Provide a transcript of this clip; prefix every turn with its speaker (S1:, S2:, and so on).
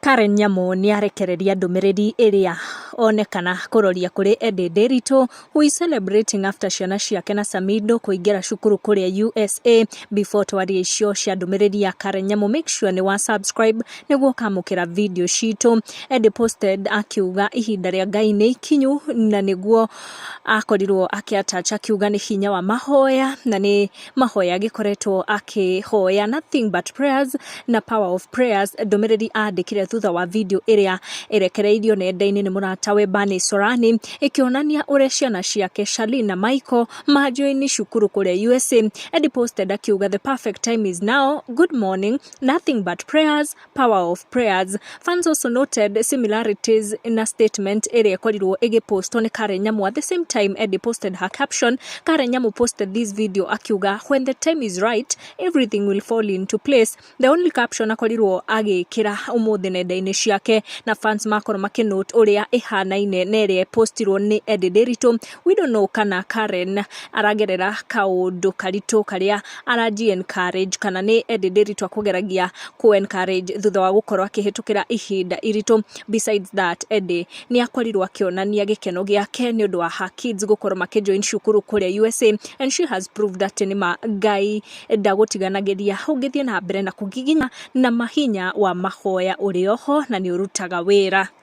S1: Karen Nyamu nĩ arekereria ndũmĩrĩri ĩrĩa onekana kũroria kũrĩ Ende Nderitu who is celebrating after ciana ciake na Samido kũingĩra cukuru kũrĩa USA. Before twarie icio cia ndũmĩrĩri ya Karen Nyamu make sure nĩ wa subscribe nĩguo ũkamũkĩra video citũ. Ende posted akiuga ihinda rĩa Ngai nĩ ikinyu na nĩguo akorirwo akĩ attach akiuga nĩ hinya wa mahoya na nĩ Mahoya agĩkoretwo akĩhoya nothing but prayers na power of prayers, ndũmĩrĩri andĩkire thutha wa video ĩrĩa ĩrekereirio nenda-inĩ nĩ mũratawe Bani Sorani ĩkĩonania ũrĩa ciana ciake Charlene na Michael manjoini cukuru kũrĩa USA. Eddie posted akiuga the perfect time is now, good morning, nothing but prayers, Power of Prayers. Fans also noted similarities in a statement area ĩkorirwo ĩgĩpostwo nĩ Karen Nyamu. At the same time, Eddie posted her caption. Karen Nyamu posted this video akiuga, when the time is right, everything will fall into place. The only caption akorirwo agĩkĩra ũmũthĩ nenda-inĩ ciake na fans makorwo makĩnote ũrĩa ĩhanaine na ĩrĩa postirwo nĩ Eddie Ndiritu. Widono kana Karen aragerera kaũndũ karitũ karĩa ara encourage kana nĩ Eddie Ndiritu akũgeragia kũ encourage thutha wa gũkorwo akĩhĩtũkĩra ihinda iritũ. Besides that Eddie nĩ akorirwo akĩonania gĩkeno gĩake nĩ ũndũ wa her kids gũkorwo makĩ join cukuru kũrĩa USA and she has proved atĩ nĩ ma Ngai ndagũtiganagĩria ũngĩthiĩ na mbere na kũgiginya na ma hinya wa mahoya ũrĩ oho na nĩ ũrutaga wĩra.